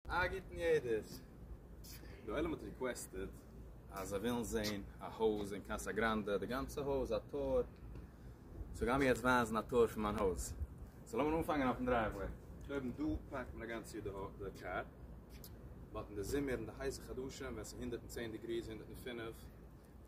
א גוטן יעדעס. די עולם האט ריקוועסטעד אז זיי ווילן זעהן א הויז אין קאסא גראנדע, די גאנצע הויז, א טור, סאו גיימיר יעצט ווייזן א טור פון מיין הויז. סאו לאמיר אנפאנגען אויפן דרייוועי. קודם דא פארקט מען א גאנץ יאר די קאר, באט אין די זומער אין די הייסע חדשים ווען ס'איז הונדערט און צען דעגריס, הונדערט און פֿינף,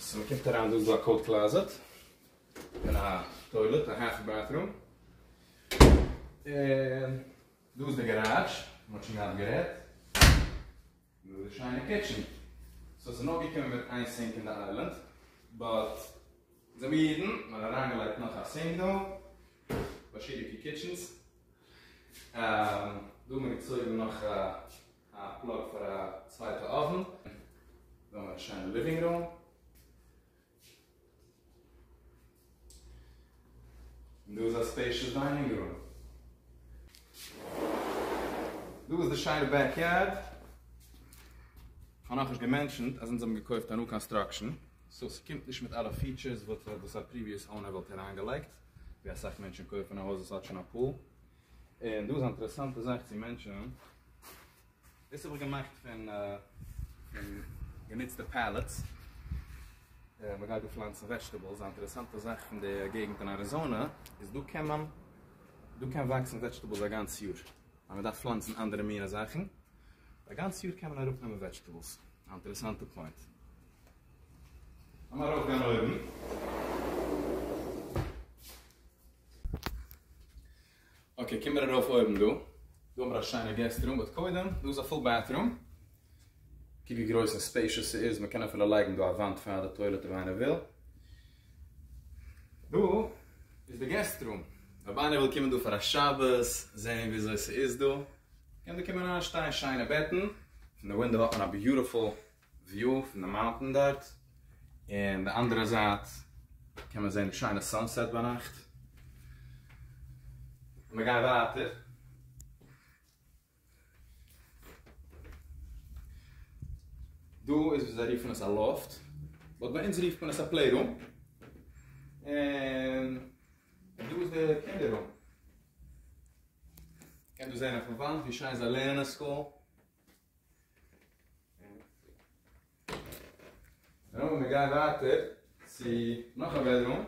סאו מ'קומט אריין דא איז דא א קאוט קלאזעט און א טוילעט א האלף בעטרום און דא איז די גאראדזש מ'האט שוין געהאט גערעדט און דא איז די שיינע קיטשען סאו ס'איז נאר געקומען מיט איין סינק אין די איילענד באט זעמיר אידן מ'האט אריינגעלייגט נאך א סינק דא באשעריקע קיטשענס דא האט מען געצויגן נאך א א פלאג פאר א צווייטע אויוון, זאל מען האבן א שיינע ליווינג רום. און דא איז א ספעישעס דיינינג רום. דא איז די שיינע בעק יארד. כ'האב נאכנישט געמענטשענט אז אונז האבן געקויפט א ניו קאנסטראקשען, סאו ס'קומט נישט מיט אלע פיטשערס וואס א פריוויעס אונער וואלט אריינגעלייגט, ווי אסאך מענטשן קויפן א הויז וואס האט שוין א פול. און דא איז אן אינטערעסאנטע זאך צו מענטשענען. דאס האב איך געמאכט פון גענוצטע פעלעטס, מען גייט דא פלאנצן וועזשטעבעלס, א אינטערעסאנטע זאך פון די געגענט אין אריזאנע איז דא קען מען, דא קען וואקסן וועזשטעבעלס א גאנץ יאר, אז מען דארף פלאנצן אנדערע מינע זאכן, א גאנץ יאר קען מען אראפ נעמען וועזשטעבעלס, א אינטערעסאנטע פוינט. לאמיר ארויף גיין אויבן. אקעי קום מיר ארויף אויבן דא. דא האבן מיר א שיינע געסט רום באט קודם דא איז א פול בעטרום. קוק ווי גרויס און ספעישעס ס'איז מען קען אפילו לייגן דא א וואנט פאר די טוילעט אויב איינער וויל. דא איז די געסט רום אויב איינער וויל קומען דא פאר א שבת זען וויאזוי ס'איז דא קען דא קומען אריין שטייען שיינע בעטן פון די ווינדא האט מען א ביוטעפול וויו פון די מאונטען דארט, און די אנדערע זייט קען מען זען די שיינע סאנסעט ביינאכט. מ'גיי ווייטער. דא איז וואס זיי רופן עס א לאפט, באט ביי אונז רופט מען עס א פלעי רום. און דא איז די קינדער רום. מ'קען דא זען אויפן וואנט ווי שיין זיי לערנען סקול. נו, מיר גייען ווייטער צו נאך א בעדרום.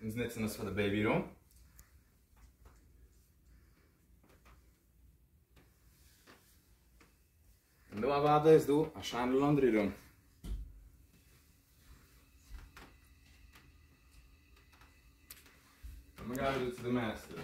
אונז נוצן עס פאר די בעיבי רום. און דא אוודאי איז דא א שיינע לאנדרי רום. און מיר גייען אריבער צו די מעסטער.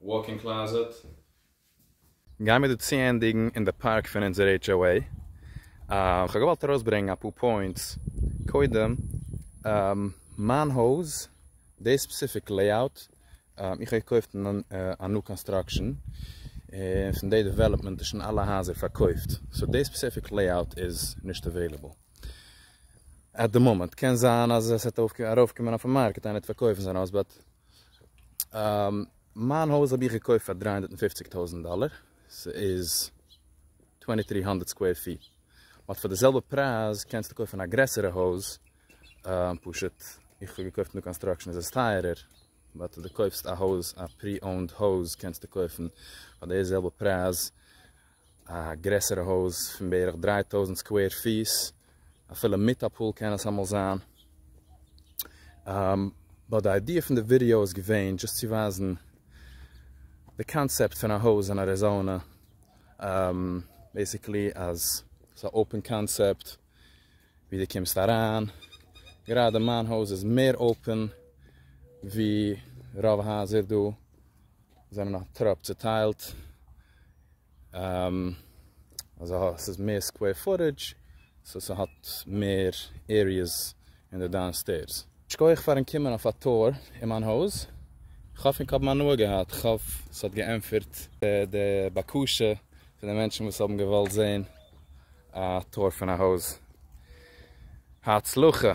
וואלק-אין קלאזעט. גיימיר דא צוענדיגן אין די פארק פון אונזער HOA. כ'האב געוואלט ארויסברענגן אפאר פוינטס, קודם מיין הויז, די ספעסיפיק לעיאוט, איך האב געקויפט א ניו קאנסטראקשען, און פון די דעוועלאפמענט איז שוין אלע הייזער פארקויפט, סאו די ספעסיפיק לעיאוט איז נישט אוועילעבל עט די מאמענט, קען זיין אז עס וועט ארויפקומען אויפן מארקעט, איינער וועט פארקויפן זיין הויז, באט מיין הויז האב איך געקויפט פאר דרײַ הונדערט פֿופֿציק טויזענט דאלער, ס'איז צוויי טויזנט דרײַ הונדערט סקווער פיט, באט פאר די זעלבע פרייז קענסטו קויפן א גרעסערע הויז, פשוט איך האב געקויפט ניו קאנסטראקשען איז עס טייערער, באט אויב די קויפסט א הויז א פרי אונד הויז קענסטו קויפן פאר די זעלבע פרייז א גרעסערע הויז פון בערך דרײַ טויזנט סקווער פיס, אפילו מיט א פול קען עס אמאל זיין. באט די איידיע פון די ווידעא איז געווען דזשאסט צו ווייזן די קאנצעפט פון א הויז אין אריזאנע, בעסיקלי אז ס'איז א אפען קאנצעפט ווי דו קומסט אריין, גראדע מיין הויז איז מער אפען ווי רוב הייזער דא, זענען א טראפ צוטיילט, אזא ס'איז מער סקווער פוטעדזש, סאו ס'האט מער עריעס אין די דאון סטעירס. שכוח פארן קומען אויף א טור אין מיין הויז, כ'האף ענק האבן הנאה געהאט, כ'האף ס'האט געענטפערט די בקשה פון די מענטשן וואס האבן געוואלט זעהן א טור פון א הויז. הצלחה!